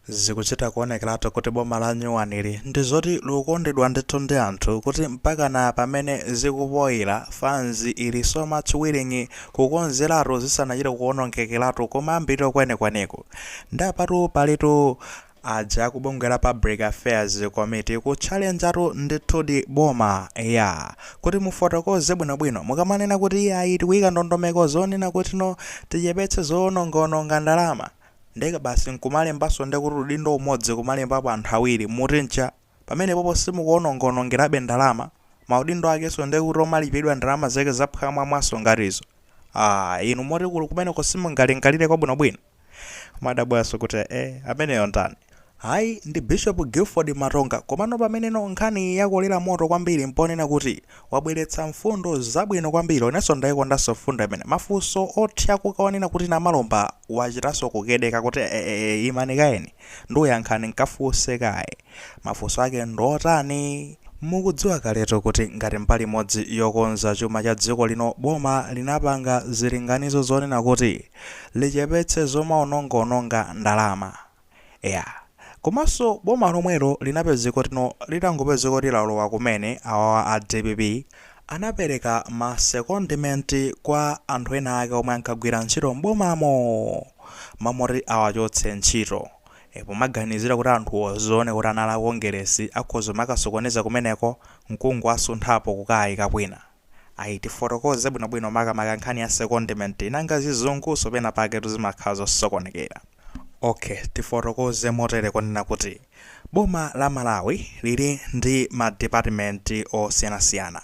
Zikuchita kuonekeratu kuti boma lanyuwanili ndizoti likukondedwa ndithu ndi anthu kuti mpakana pamene zikupoira fans ili so much willing kukonzeratu zisanachite kuonongekeratu kumayambiriro kwenikweniko. Nde apatu palitu aja a kubungwe la Public Affairs Committee kutchalenjatu ndithudi boma eyaa! Kuti mufotokoze bwinobwino mukamanena kuti iyayi tikuika ndondomeko zonena kutino tichepetse zoonongaononga ndalama, ndeka basi nkumalembanso ndekuti udindo umodzi kumalembapo anthu awiri muti ncha? pamenepopo simukuonongaonongerabe ndalama? maudindo akenso ndekuti omalipidwa ndalama zake zaphwamwamwanso ngati izo? aah inu moti kuli kumeneko simungalingalire kwabwinobwino? kumadabwanso kuti eeh ameneyo ndani? Ayi, ndi Bishopu Gilford Matonga. Komano pameneno nkhaniyi yakolera moto kwambiri mponena kuti wabweretsa mfundo zabwino kwambiri. Inenso ndaikondanso mfundo imene. Mafunso othyakuka onena kuti Namalomba wachitanso kukedeka kuti e-e-e imani kaye ndiyankha nkafunse kaye. Mafunso ake ndiotani? Mukudziwa kaletu kuti ngati mbali imodzi yokonza chuma cha dziko lino boma linapanga zilinganizo zoonetsetsa kuti lichepetse zomaonongaononga ndalama. Eya. Komanso boma lomwelo linapezeka kutino litangopezeka kuti lalowa kumene, awawa a dpp anapereka ma secondment kwa anthu ena ake omwe ankagwira ntchito m'bomamo! M'malo moti awachotse ntchito. E, pomaganizira kuti anthuwo zioneka kuti anali a Kongeresi akhoza kumakasokoneza kumeneko n'kungowasunthapo kukawaika kwina. Ayi, tifotokoze bwinobwino makamaka nkhani ya secondment, nanga zizungunso penapaketu zimakhala zosokonekera. Ok, tifotokoze motere konena kuti boma la Malawi lili ndi ma department osiyanasiyana.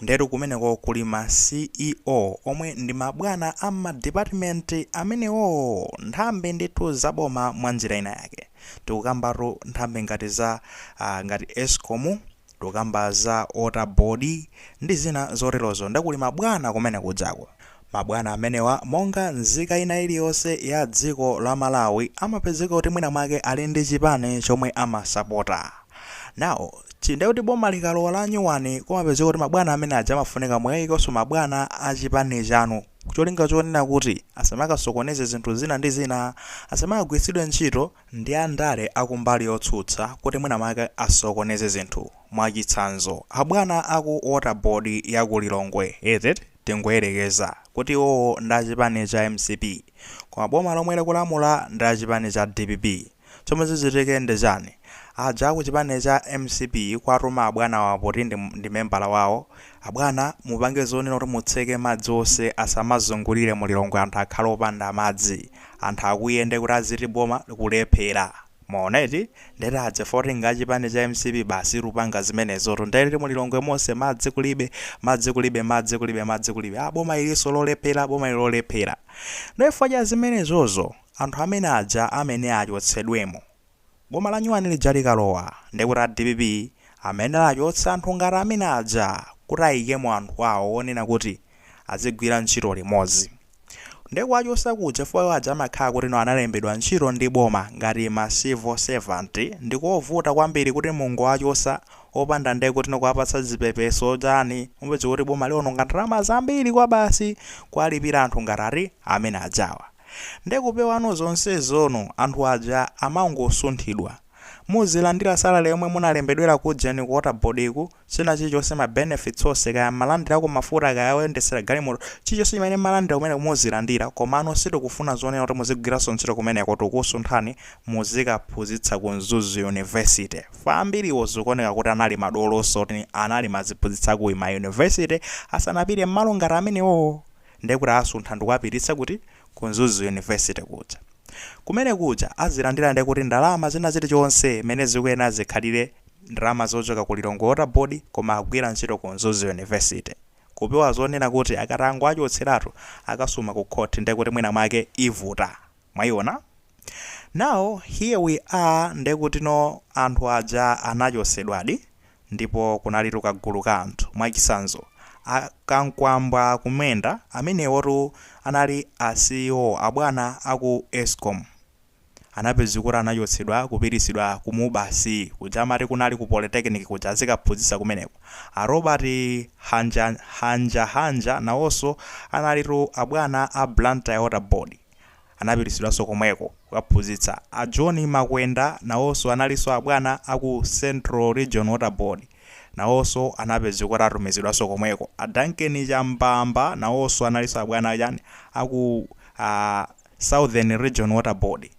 Ndiyetu kumeneko kuli ma CEO omwe ndi mabwana a mma department amenewo, nthambi ndithu za boma mwa njira ina yake. Tikukambatu nthambi ngati za, ah, ngati Escom, Tukamba za water board ndi zina zoterozo nde kuli ma bwana kumene kujako. Ma bwana amenewa monga nzika ina iliyonse ya dziko la Malawi amapezeka kuti mwina mwake ali ndi chipani chomwe amasapota. Now, chi nde kuti boma likalowa la nyuwani kumapezeka kuti ma bwana amene aja amafunika muwaikenso ma bwana a chipani chanu cholinga chonena kuti asamakasokoneze zinthu zina ndi zina, asamakagwiritsidwe ntchito. ndi andale a kumbali yotsutsa kuti mwinamwake asokoneze zinthu, mwachitsanzo, abwana a ku Water Board ya ku Lilongwe, eti tingoyerekeza, kuti iwowo ndi a chipani cha mcp, koma boma lomwe likulamula ndi la chipani cha dpp. Chomwe chichitike ndi chani? Aja a ku chipani cha mcp kwatuma abwanawa poti ndi membala wawo, Abwana mupange zonena kuti mutseke madzi ose asamazungulire mu Lilongwe anthu akhale opanda madzi. Anthu akwiye nde kuti aziti boma likulephera. Mwaona eti? Nde tadze fotinga a chipani cha mcp basi likupanga zimenezotu. Nde eti mu Lilongwe monse madzi kulibe, madzi kulibe, madzi kulibe, madzi kulibe. Aah boma ilinso lolephera, boma ili lolephera. Nde chifukwa cha zimenezozo anthu amene aja amene achotsedwemo. Boma la nyuwani lija likalowa ndiye kuti a dpp amenewa achotsa anthu ngati amene aja kuti ayikemo anthu awo onena kuti azigwira ntchito limodzi. Ndiye kuwachosa kuja chifukwa iwo aja amakhala kuti no analembedwa ntchito ndi boma ngati ma civil servant ndikovuta kwambiri kuti mungowachosa opanda ndiye kuti no kuwapatsa zipepeso chani mupeza kuti boma liononga ndalama zambiri kwabasi kuwalipira anthu ngati ati amene ajawa. Nde kupewano zonsezono anthu aja amangosunthidwa. Muzilandila salary yomwe munalembedwela kuja ni ku waterboard ku, china chilichonse ma benefits onse kaya mmalandilako mafuta kaya oyendetsela galimoto, chilichonse chimene mmalandila kumeneko muzilandila komano sitikufuna zonena kuti muzigwilanso ntchito kumeneko tikusunthani muzikaphuzitsa ku Mzuzu university. Fa ambiliwo zikuoneka kuti anali madoloso oti anali maziphuzitsa kui ma university asanapite mmalo ngati amenewowo. ndekuti asuntha ndikuwapititsa kuti ku mzuzu university kuja kumene kuja azilandira ndekuti ndalama zina zili chonse mene zikuyenera zikhalire ndalama zochoka ku lilongwe water board koma agwira ntchito ku mzuzu university kupewa zonena kuti akatangowachotseratu akasuma ku court ndekuti mwina mwake ivuta. Mwayiona? Now, here we are ndekutino anthu aja anachosedwadi ndipo kunalitu kagulu ka anthu, mwachisanzo, a Kamkwamba Kumwenda amenewotu anali a CEO abwana aku Escom anapezeka kuti anachotsedwa kupitisidwa ku Mubas kuja amati kunali ku Polytechnic kuja azikaphuzisa kumeneko, a Robert Hanjahanja nawoso analitu abwana a Blantyre Water Board. anapititsidwanso komweko kukaphunzitsa. A John Makwenda nawonso analinso abwana a ku Central Region Water Board. Nawonso anapezeka kuti atumizidwanso komweko. A Duncan Chambamba nawonso analinso abwana achani, a ku, a, Southern Region Water Board.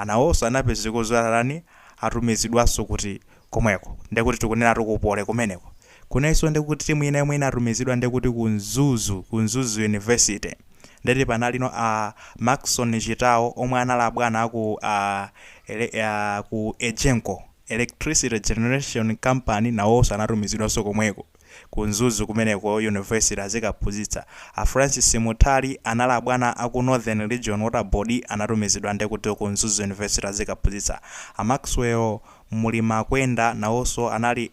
Nawonso anapezeka zoti atani, atumizidwanso kuti, komweko ndekuti tikunenatu ku poly kumeneko kunalinso ndekuti timu ina yomwe inatumizidwa ndekuti ku mzuzu ku mzuzu university ndeti panalino a maxon chitawo omwe anali abwana aku a ku egenco electricity generation company nawonso anatumizidwanso komweko Ku Mzuzu kumeneko university azikaphuzitsa a Francis Munthali anali abwana a ku Northern region water board anatumizidwa nde kuti ku Mzuzu university azikaphuzitsa a Maxwell Mulimakwenda nawonso anali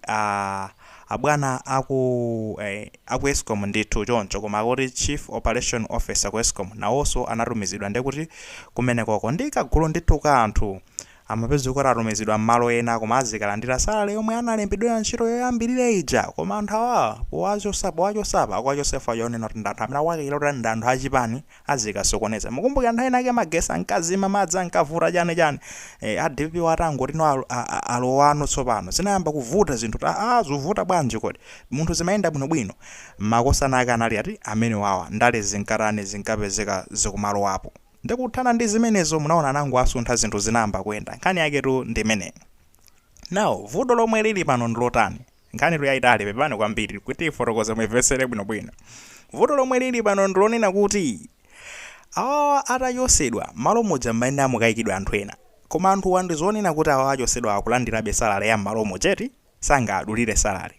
abwana a ku eh a ku Escom ndithu choncho koma akuti chief operation officer ku Escom nawoso anatumizidwa nde kuti kumenekoko ndi kagulu ndithu ka anthu Amapezeka kuti atumizidwa mmalo ena koma azikalandira salary yomwe analembedwera ntchito yoyambilira ija koma anthu awa powachosa apa akuwachosa chifukwa chonena kuti ndi anthu amene akuwakaikira kuti ndi anthu achipani azikasokoneza mukumbukira nthawi inayake magesi ankazima madzi ankavuta chani chani ee a dpp wo atangoti no alowano tsopano zinayamba kuvuta zinthu kuti aah zuvuta bwanji kodi munthu zimayenda bwino bwino makosana ake anali ati amenewawa ndale zinkatani zinkapezeka zikumalowapo Nde kuthana ndi zimenezo munaona anangoasuntha zinthu zinayamba kuyenda. Nkhani yaketu ndi imeneyo. Now vuto lomwe lili pano ndi lotani? Nkhanitu yaitali pepani kwambiri kuti tiifotokoze muimvetsere bwinobwino. Vuto lomwe lili pano ndi lonena kuti awawa atachosedwa mmalo muja mmayenera mukaikidwe anthu ena. Koma anthuwa ndi zonena kuti awawa achosedwawa akulandirabe salary ya mmalomuja eti? sangadulire salary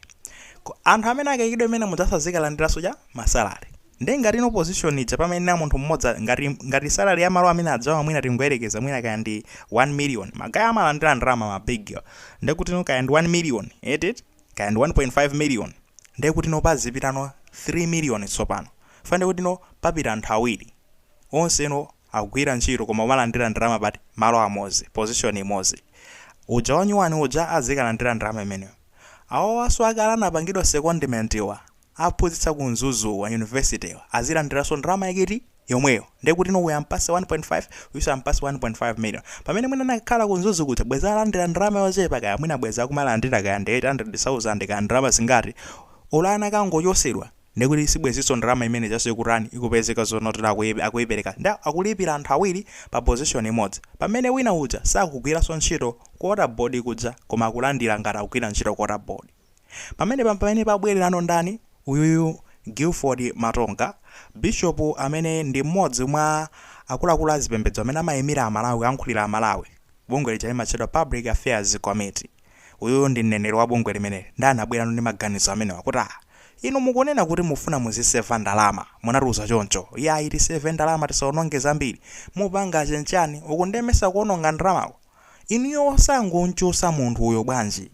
anthu amene akaikidwe menemuja azikalandiranso cha? ma salary nde ngati no position ija pamayenera munthu mmodzi a- ngati ngati salary ya malo amene adzawa mwina tingoyerekeza mwina kaya ndi 1 million magaye amalandira ndalama ma big nde kuti no kaya ndi 1 million eti kaya ndi 1.5 million nde kuti no pazipitano 3 million tsopano fande kuti no papita anthu awiri onse no akugwira ntchito koma umalandira ndalama pati malo amozi position imozi uja wanyuwani uja azikalandira ndalama imeneyo awawaso akale anapangidwa secondment wa akuphuzitsa ku mzuzu wa university wa azilandiraso ndalama yake eti yomweyo ndekutino uyu ampase 1.5 uyuso ampase 1.5 million pamene mwina anakhala ku mzuzu kuja bwezi alandira ndalama yochepa kaya mwina bwezi akumalandira kaya ndi 800000 kaya ndalama zingati olo anakangochosedwa ndekuti sibweziso ndalama imene ijaso ikutani ikupezeka zonotere akuipereka nde akulipira anthu awiri pa position imodzi pamene wina uja sakugwiraso ntchito ku water board kuja koma akulandira ngati akugwira ntchito ku water board pamenepa mpamene pakubwererano ndani uyuyu Gilford Matonga Bishop amene ndi mmodzi mwa akuluakulu azipembedzo amene amaimira amalawi kuyankhulira amalawi bungwe lija limatchedwa public affairs committee. Uyu ndi mneneri wa bungwe limeneli ndiye anabwerano ndi maganizo amenewa kuti, Ah, inu mukunena kuti mufuna muziseva ndalama, munatiuza choncho, yayi tiseve ndalama tisaononge zambiri, mupanga chenchani uku ndiye mesa kuononga ndalama? Inuyo osangonchosa munthu uyo bwanji?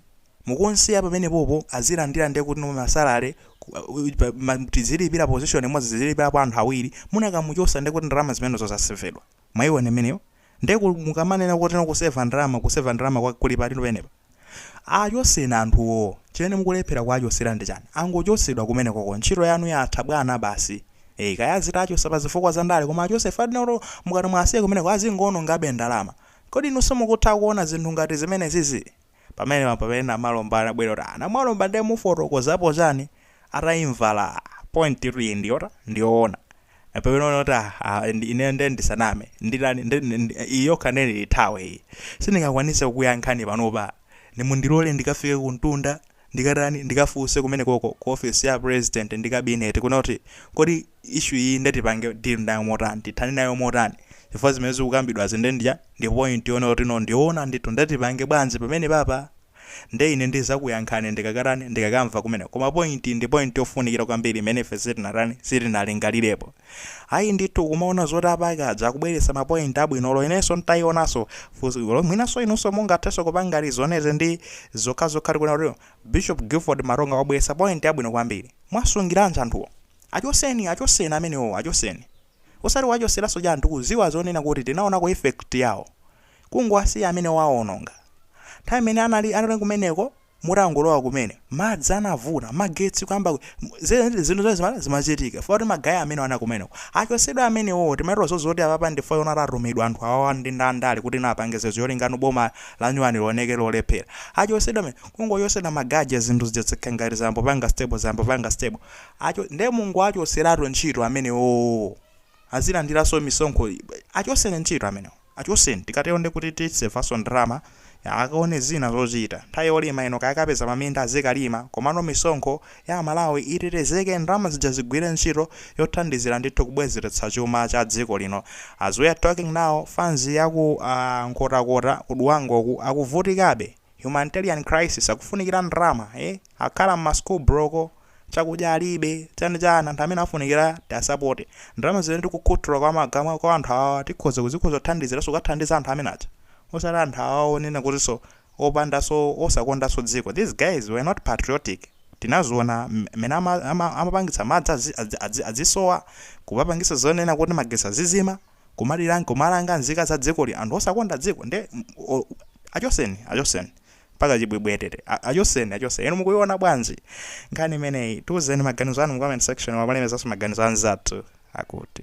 Mukunsiya pamenepopo azilandira ndiye kuti ma salary tizilipira position imodzi tizilipirapo anthu awiri, munakamuchosa ndiye kuti ndalama zimenezo zasevedwa. Mwaiona imeneyo? Nde ku mukamanena kuti no kuseva ndalama, kuseva ndalama kwake kuli pati pamenepa? Achotseni anthuwo. Chimene mukulephera kuwachotsera ndi chani? Angochotsedwa kumenekoko. Ntchito yanu yatha bwana basi. Eeh, kaya azitachotsa pa zifukwa za ndale koma achotse chifukwa olo mukati muwasiye kumeneko azingoonongabe ndalama. Kodi inu simukutha kuona zinthu ngati zimenezizii? pamenepa mpamene Namalomba anabwera kuti aah Namalomba nde mufotokozapo chani ataimva la point ati iyi ndiyota ndiyoona mpamene anaona kuti aah aah ineyo nde ndisaname nditani nde iyi yokha nde ndithawe iyi sindingakwanise kukuyankhani panopa nde mundilole ndikafike kumtunda ndikatani ndikafunse kumenekoko ku office ya president ndi kabineti kuona kuti kodi issue iyi nde tipange deal nayo motani, tithane nayo motani chifukwa zimene zikukambidwazi nde ndi ija, ndi point yoona kuti no ndiyoona ndithu nde tipange bwanji pamenepapa nde ine ndizakuyankhani ndikakatani ndikakamva kumeneko koma point iyi ndi point yofunikira kwambiri imene ife sitinatani sitinalingalirepo. ayi ndithu kumaona zoti apa kaja akubweretsa mapoint abwino olo inenso ntaionanso fundo zo mwinanso inunso mungathenso kupanga ma reason aze ndi zokhazokha kuona kuti bishop gilford matonga wabweretsa point abwino kwambiri mwasungiranji anthuwo achoseni achoseni amenewo achoseni osati mwachoseranso ja anthu kuziwa zonena kuti tinaonako effect yawo kungowasiya amene waononga nthawi imene anali anali kumeneko Mutangolowa kumene, madzi anavuta, magetsi kuyamba kuzima zinthu zimene zima- zimachitika chifukwa kuti magaya amene anali kumeneko achotsedwa amenewo timadziwa zozi zoti apapa ndithu iwowa atumidwa anthu awawa ndi andale kuti no apange zinthu zolinga boma lanyuwani lioneke lolephera achotsedwa amene kungochotsedwa magaye aja zinthu zija zikhala ngati zayamba kupanga stable zayamba kupanga stable Acho, nde mungowachotseratu ntchito amenewowo azilandiranso misonkho achotseni ntchito amenewo. Achoseni tikatero ndekuti tisevanso ndalama, akaone zina zochita. Nthawi yolima ino kaya akapeza maminda azikalima komano misonkho ya amalawi itetezeke ndalama zija zigwire ntchito yothandizira ndithu kubwezeretsa chuma cha dziko lino. As we are talking now fans ya ku Nkhotakota ku Dwangwa uku akuvutikabe. Humanitarian crisis akufunikira ndalama. Eeh akhala mma school block. chakudya alibe chani chani anthu amene afunikira tiasapote ndalama zimene tikukhuthula kwa magama kwa anthu awawa tikhoza kuzi- tikhoza kuthandiziranso kukathandiza anthu amene aja osati anthu awawa onena kutinso opandanso osakondanso dziko these guys were not patriotic tinaziona m- mmene ama- ama- amapangitsa madzi azi- azi- azi- azisowa kumapangitsa zonena kuti magetsi azizima kumala- kumalanga nzika za dzikoli anthu osakonda dziko nde m- o- achoseni achoseni mpaka chibwibwi etete A- achoseni achoseni inu mukuiona bwanji nkhani imeneyi tiuzeni maganizo anu mu comment section mumalemekezaso maganizo anzathu akuti